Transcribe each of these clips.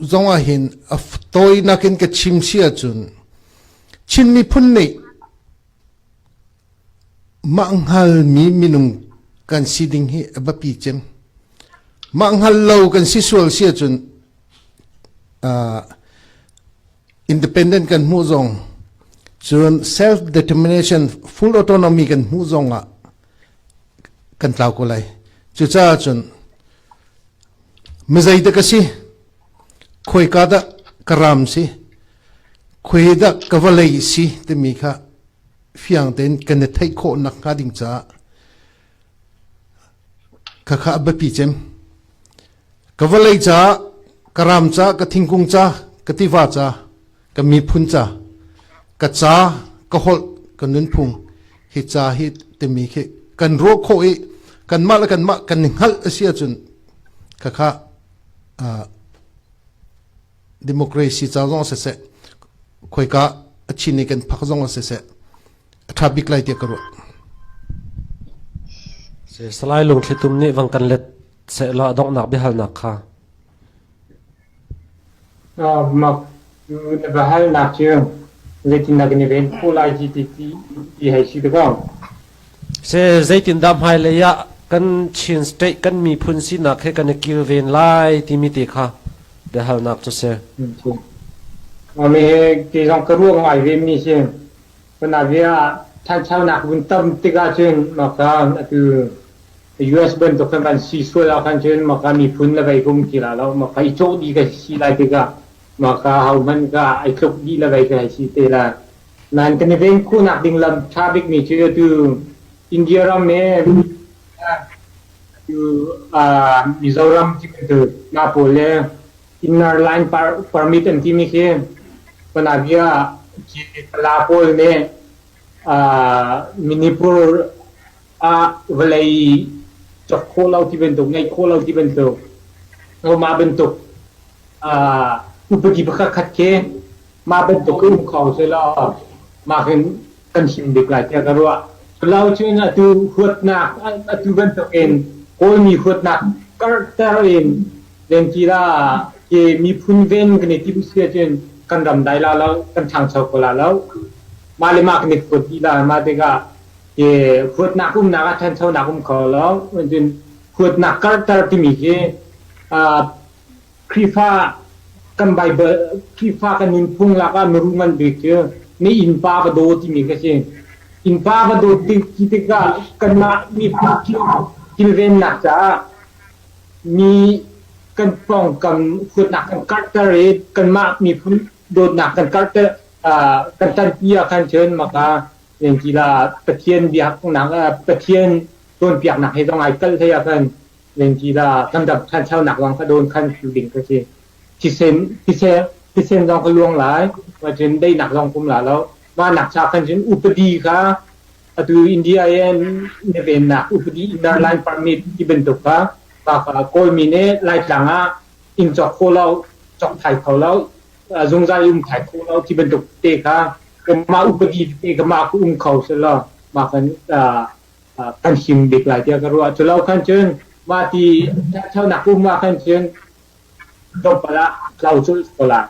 zongah hin a tawinak in ka chim si ahcun Chin miphun nih mah hngalmi minung kan si ding hi a biapi cem mah hngal lo kan si sual si ahcun uh, independent kan hmuh zong cun self determination full autonomy kan hmuh zong ah kan tlau ko lai cucaah cun mizei dah ka si khoika dah ka ram si khui dah ka vawlei si timi kha fiang tein kan i theih khawh nak hnga ding caah khakha biapi cem ka vawlei caah ka ram ca ka thingkung ca ka tiva ca ka miphun ca ka ca ka holh ka nunphung hi ca hi timi khi kan ruah khawh i kanmah le kanmah kan i hngalh a si ahcun khakha democracy ca zong se se khoika a chin i kan phak zong se se a tha bik lai tiah ka ruah salai lungthlitum nih vang kan let se la dongnak biahalnak kha Mak na va hal nak cu zeitindah kan i ven khawh lai ti ti hei si te ko. Zeitindah hmailei ah kan Chin State kan miphun sinak he kan i kilven lai timi te kha biahalnak cu si. Ami he ti zong ka ruah ngai ve mi si. Kunabia ah ṭhanchonak vun tam tik ahcun mak caan atu US bantuk khan kan si sual ahkhan cun maka miphun le veikung ti la lo maka i cawh dih ka si si lai tikah maka hohmanh ka ai tluk dih le vei ka hei si te la nan kan i ven khu nak ding lam tha bik mi cu tu India ram e tu Mizoram ci tu na pol le inner line permit an ti mi khi pana bia ci la pol ne Minipur ah vawlei cak khawh lo ti bantuk, ngeih khawh lo ti bantuk, mah bantuk upadi pakhatkhat khi mah bantuk in um kho selaw mah hin kan him bik lai tiah ka ruah. Lo cun atu huatnak, atu bantuk in Kawlmi huatnak karhter in Tlengkil ah ke miphun ven kan i timh si ahcun kan ram dai la lo, kan ṭhangcho kho la lo. Mah le mah kan i huat dih lai. Mah tikah ke huatnak umnak ah ṭhanchonak um kho lo. Cun huatnak karhter timi khi uh, Khrihfa kan Baibal Khrihfa kan nunphung lakah miru ngan bik cu na innpa va daw timi ka si. Innpa va daw ti tikah kanmah miphun kilvennak caah mi kan pawngkam huatnak kan karhter i kanmah miphun dawtnak kan karhter uh, kan tanpi ah khan cun maka ningkila Pathian biaknak uh, Pathian tuanpiaknak he zong ai kalh thei ah khan ningkila kan dam thanchonak zong ka dawn khan phiu ding ka si thisen thisen thisen zong ka luang lai ma cun deinak zong kum la lo ma nak cha khan cun upadi kha Atu India in na vennak upadi dar Lai permit ti bantuk kha Kawlmi nih Laitlang ah inn cawk kho lo, cawk thai kho lo, zungzal um thai kho lo ti bantuk te kha mah upadi te ka mah ku um kho selaw mah kan kan him bik lai tiah ka ruah. Cu lo khan cun mah ti thaunak um ah khan cun tlawmpal ah tlau culh ko lai.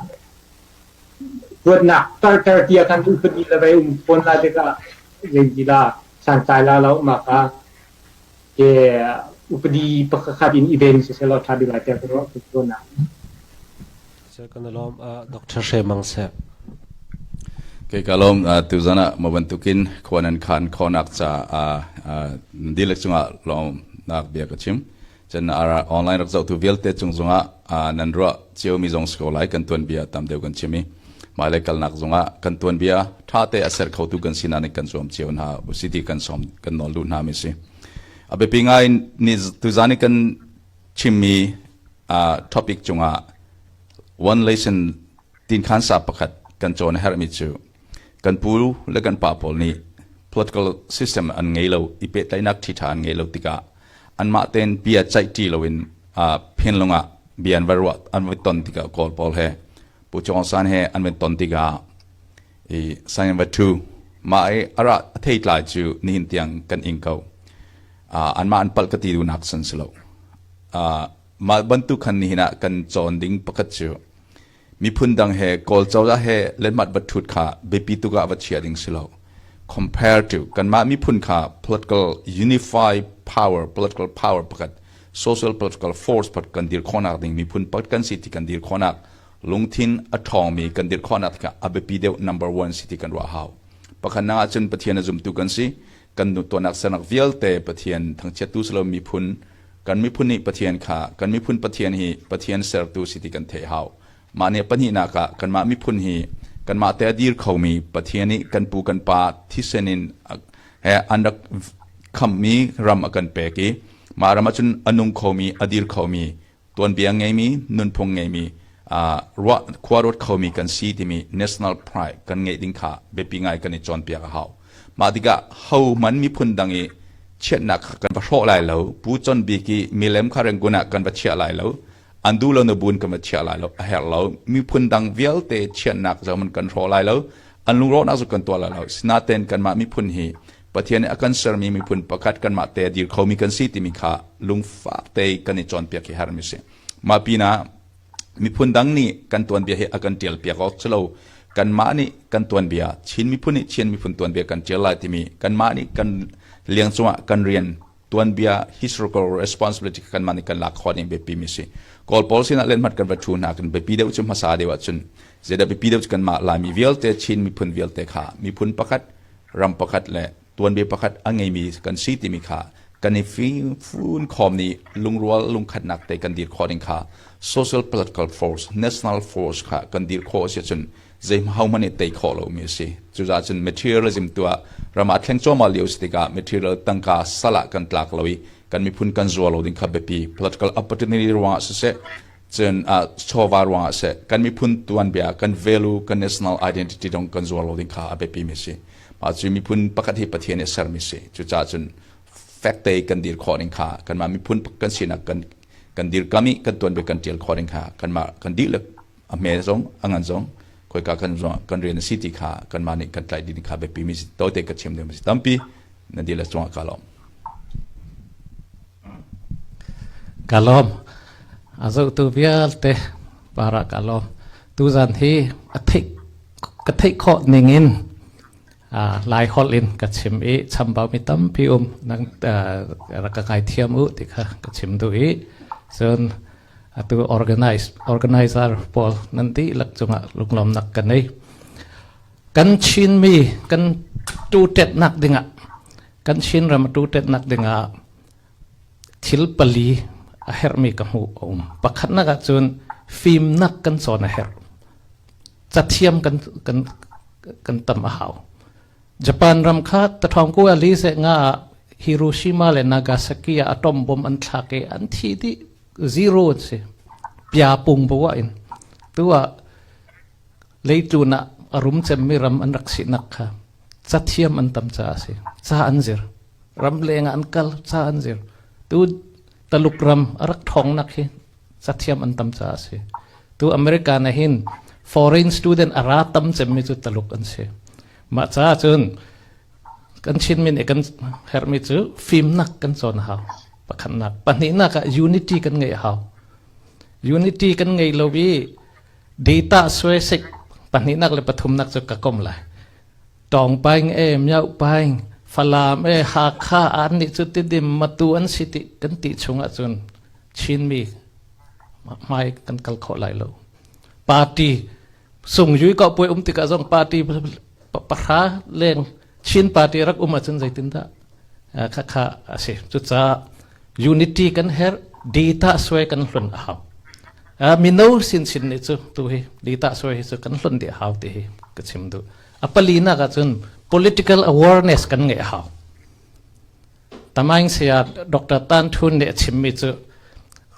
Huatnak tarter ti ah khan um pahnih le vei um fawn lai tikah lengti la santlai la lo mak ah ke upadi pakhat in even si se lo tha bi lai te ko ro ko na se kan lom dr she mang se ke ka lom tu zana ma ban tukin khonan khan khonak cha a dilek chunga lom nak bia ka chim Cun online rak zohtu vialte cung zongah nan ruah ciomi zong si ko lai kan tuanbia tam deuh kan chim i hmailei kalnak zongah kan tuanbia ṭhate a ser khotu kan sinak nih kan zuam cio hna usiti kan som kan nawl duh hna mi si a biapi ngai ni tuzan i kan chimmi topic cungah one lesson tin khan sa pakhat kan cawn a herhmi cu kan pu le kan pa pawl nih political system an ngei lo i pehtlaihnak ṭhiṭha an ngei lo tikah anmah tein bia ceih ṭi loin uh, phinlung ah bia an va ruah an va ton tikah kawl pawl he pu chuang san he an va ton tikah i sign va thu ma i ara a thei tlai cu nihin tiang kan ing ko uh, anmah an palh ka ti dunak san si lo uh, mah bantuk khan nihin ah kan cawn ding pakhat cu Miphun dang he Kawl cozah he letmat vathut kha biapi tuk ah va chia ding si lo. Compare to kanmah miphun kha political unified power, political power pakhat, social political force pat kan dir khonak ding miphun pat kan si ti kan dir khonak lungthin a ṭhawngmi kan dir khonak tikah a biapi deuh number one si ti kan ruah hau. Pakhat nang ahcun Pathian a zumtu kan si kan tuahnak sernak vialte Pathian thangchiatu salo miphun Kan miphun nih Pathian kha kan miphun Pathian hi Pathian sertu si ti kan theih hau. Mah nih pahnihnak ah kanmah miphun hi kanmah te a dir khomi Pathian nih kan pu kan pa thisen in an rak khammi ram a kan pek i mah ram ahcun a nung khomi a dir khomi tuanbia ngeimi nunphung ngeimi ruah khua ruat khomi kan si timi national pride kan ngeih ding kha biapi ngai kan i cawnpiak a hau. Mah tikah hohman miphun dang i chiatnak kha kan va hrawh lai lo. Pu Con Bik i milem kha Rangoon ah kan va chiah lai lo. An duh lo na buin kan va chiah lai lo. A herh lo. Miphun dang vialte chiatnak zohman kan hrawh lai lo. An lungrawhnak cu kan tuah lai lo. Sinaten kanmah miphun hi Pathian nih a kan sermi miphun pakhat kanmah te a dir khomi kan si timi kha lungfak te kan i cawnpiak hi harmi a si. Mah pinah Miphun dang nih kan tuanbia hi a kan ṭialpiak awk si lo. Kanmah nih kan tuanbia, Chin miphun nih Chin miphun tuanbia kan ṭial lai timi kanmah nih kan leng cungah kan rian tuanbia historical responsibility kanmah nih kan lak khawh ding biapi mi a si. Kawl pawl sinah lenhmat kan va ṭhu hna kan biapi deuh cu hmasa deuh ahcun zeidah biapi deuh cu kanmah Laimi vialte Chin miphun vialte kha miphun pakhat, ram pakhat le tuanbia pakhat a ngeimi kan si timi kha kan i fun khawm nih lungrual lungkhatnak te kan dir khawh ding kha social political force national force kha kan dir khawh a si cun zei hohmanh nih tei khawh lomi a si cucaah cun materialism tuah rama thleng cuahmah lio si tikah material tangka salah kan tlak lo i kan miphun kan zuar lo ding kha biapi political opportunity ruangah siseh cun uh, chawva ruangah seh kan miphun tuanbia kan value kan national identity dong kan zuar lo ding kha a biapi mi si Mah cu miphun pakhat hi Pathian i sermi si. Cucaah cun fekte kan dir khawh ning kha kanmah miphun kan sinak kan kan dirkam i kan tuanbia kan ṭial khawh ning kha kanmah kan dih le a hme zong a ngan zong khoika kan kan rian a si ti kha kanmah nih kan tlaih ding kha biapi mi si tote ka chim ding mi si tampi na dil a cungah ka lawm ka lawm a zotu vialte para ka lawm tu zan hi a thik ka theih khawh ning in Lai holh in ka chim i chambau mi tampi um nang rak ka kai thiam u ti kha ka chim duh i cun atu organize organizer pawl nan dihlak cungah lunglawmnak ka nei kan chin mi kan tu tet nak dingah kan chin ram tu tet nak dingah Thil pali a herhmi ka hmuh a um. Pakhatnak ahcun fimnak kan cawn a herh. Cathiam kan, kan, kan tam a hau. Japan ram kha tathawngku ali se nga ah Hiroshima le Nagasaki ah atom bom an thlak i an thi dih zero an si. Pia pung bawa in. Tu ah leitlun ah a rum cemmi ram an rak sinak kha cathiam an tam caah a si. Ca an zir. ramleng ah an kal ca an zir tu taluk ram a rak thawngnak hi cathiam an tam caah a si tu america na hin foreign student a ra tam cemmi cu taluk an si mah caah cun kan chinmi nih kan herhmi cu fimnak kan cawn hau pakhatnak pahnihnak ah unity kan ngei hau unity kan ngei lo i data suasek pahnihnak le pathumnak cu ka kom lai Tawng Paing e, Myo Paing, Falam e, Hakha an nih cu tidim matu an si ti kan ti chung ahcun Chinmi hmai kan kal khawh lai lo. Party sung yui ko puai um tikah zong party pahra leng Chin party rak um ahcun zeitindah khakha asi cucaah unity kan her data suai kan hlun a hau mino sin sin ni cu tu hi data suai hi cu kan hlun di hau ti hi ka chim duh a pali nak ah cun political awareness kan ngeih hau tamaing saya dr tan thun nih a chimmi cu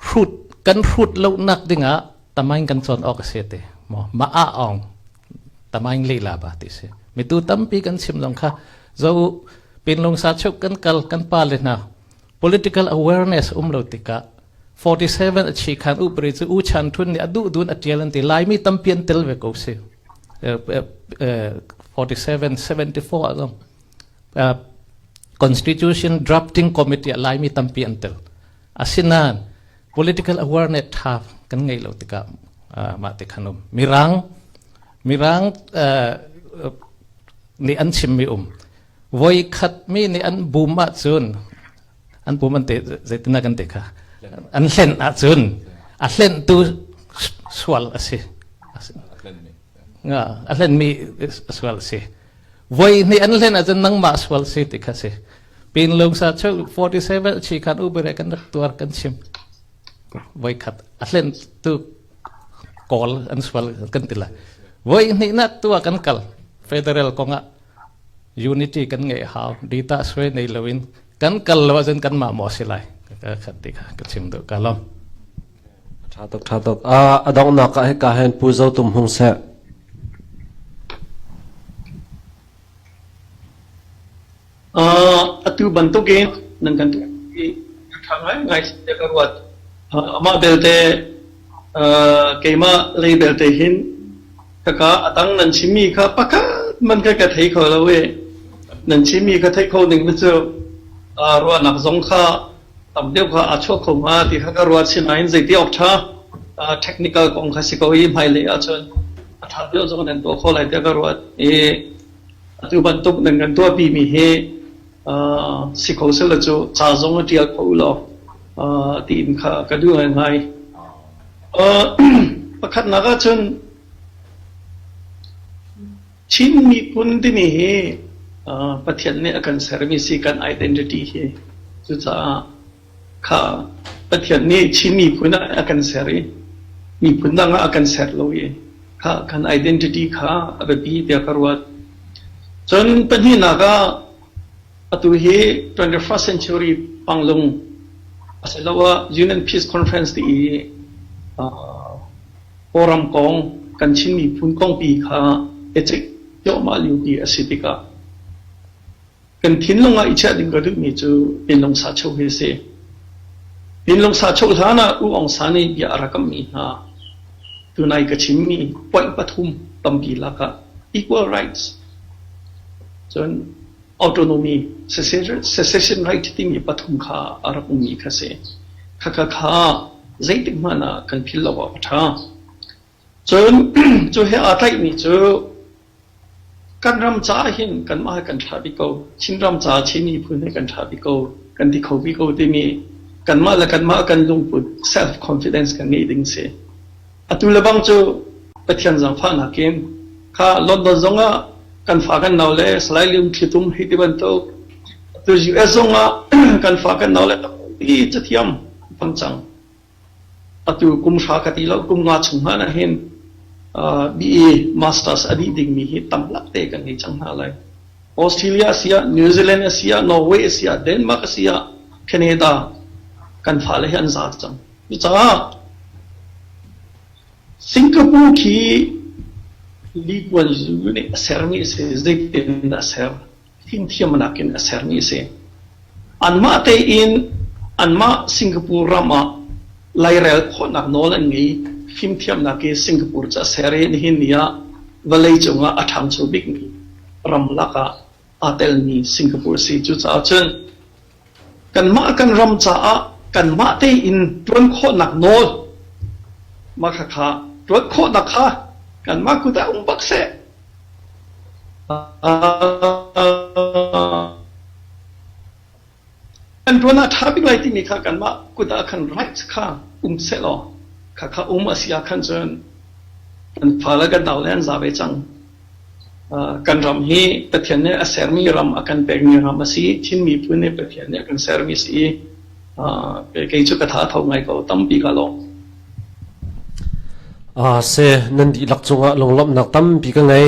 hrut kan hrut lo nak ding ah tamaing kan cawn awk a si te mo ma a ong tamaing le la ba ti si mi tu tampi kan chim zong kha zo pinlung sa chuk kan kal kan pa le na Political awareness um lo tikah 47 a chi khan upari cu U Chan Htun nih a duh dun a tial an ti Laimi tampi an tel ve ko si. 47 74 a zong Constitution Drafting Committee ah Laimi tampi an tel. Asinan political awareness tha kan ngei lo tikah mah ti khanum Mirang Mirang nih an chimmi um voikhat mi nih an bum ahcun an bum an te zeitindah kan te kha an hlen ahcun a hlentu sual a si a hlenmi sual a si voi hnih an hlen ahcun nangmah sual si ti kha si pin lung sa cheu 47 chi khan ubere kan rak tuar kan chim voi khat a hlentu kawl an sual kan tila voi hnih na tua kan kal federal kongah unity kan ngeih hau ditah suai nei loin kan kal lo ahcun kanmah maw si lai ka khat ti kha ka chim duh ka lom tha tuk tha tuk a adongnak ka he ka hen pu zo tum hung se atu bantukin nan kan tu i thang ngai ngai se ka ruat ama belte keimah lei belte hin khaka a tang nan chimmi kha pakhat man ka ka thei kho lo i nan chimmi ka theih kho ning mi cu ruahnak zong kha tam deuh kha a chuak kho ma ti kha ka ruat sin ah hin zeiti ok tha technical kong kha si ko i hmailei ahcun a tha deuh zong nan tuah kho lai tiah ka ruat i atu bantuk nan kan tuahpi mi hi Si kho sel lo cu ca zong a ṭial kho law tiin kha ka duh ngaingai. Pakhatnak ahcun Chin miphun timi hi Pathian nih a kan sermi si kan identity hi cucaah kha Pathian nih Chinmi phun ah a kan ser i miphun dang ah a kan ser lo i kha kan identity kha a biapi tiah ka ruat. Cun pahnihnak ah atu hi 21st century panglung asiloah Union Peace Conference ti i Kawlram kong kan Chin miphun kongpi kha ethic cuahmah lio ti a si tikah Kan thinlung ah i chiah ding ka duhmi cu pinlung sacheu hi a si. Pinlung sacheu hlan ah U Aung San nih bia a rak kammi hna, tunai ka chimmi point pathum tampi lak ah equal rights, cun autonomy, secession right timi pathum kha a rak ummi kha si. Khakha kha zeitik hmanh ah kan philh lo awk a ṭha. Cun cu he aa tlaihmi cu kan ram caah hin kanmah he kan ṭha bik ko. Chinram caah Chin miphun he kan ṭha bik ko, kan ti kho bik ko timi kanmah le kanmah kan lungput self confidence kan ngeih ding a si. Atu le bang cu Pathian zaangfahnak in kha London zong ah kan fa kan nau le Salai Lian Thlitum hi ti bantuk atu US zong ah kan fa kan nau le tampi cathiam an hmang cang. Atu kum hra ka ti lo, kum nga chung hmanh ah hin BA Masters a dih dingmi hi tamlak te kan ngei cang hna lai. Australia a si ah, New Zealand a si ah, Norway a si ah, Denmark a si ah, Canada kan fale hi an zar cang. Cucaah Singapore khi Li Kuan Yew nih a sermi a si, zeitin dah a ser? fimthiam nakin a sermi a si. Anmah tein anmah Singapore ram ah lairel khawhnak nawl an ngei. Fimthiamnak hi Singapore cu a ser i nihin ni ah vawlei cungah a ṭhangcho bikmi ramlak ah aa telmi Singapore a si. Cucaah cun Kanmah kan ram caah kanmah tein ṭuan khawhnak nawl mah khakha ṭuat khawhnak kha kanmah kut ah um bak seh. Kan ṭuan ah ṭha bik lai timi kha kanmah kut ah khan right kha um seh law khakha um a si ah khan cun kan fale kan nau le an za ve cang. Kan ram hi Pathian nih a sermi ram a kan pekmi ram a si. Thim miphun nih Pathian nih a kan sermi a si i kei cu ka tha tho ngai ko tampi ka lawm. A si nan dihlak cungah lunglawmhnak tampi ka ngei.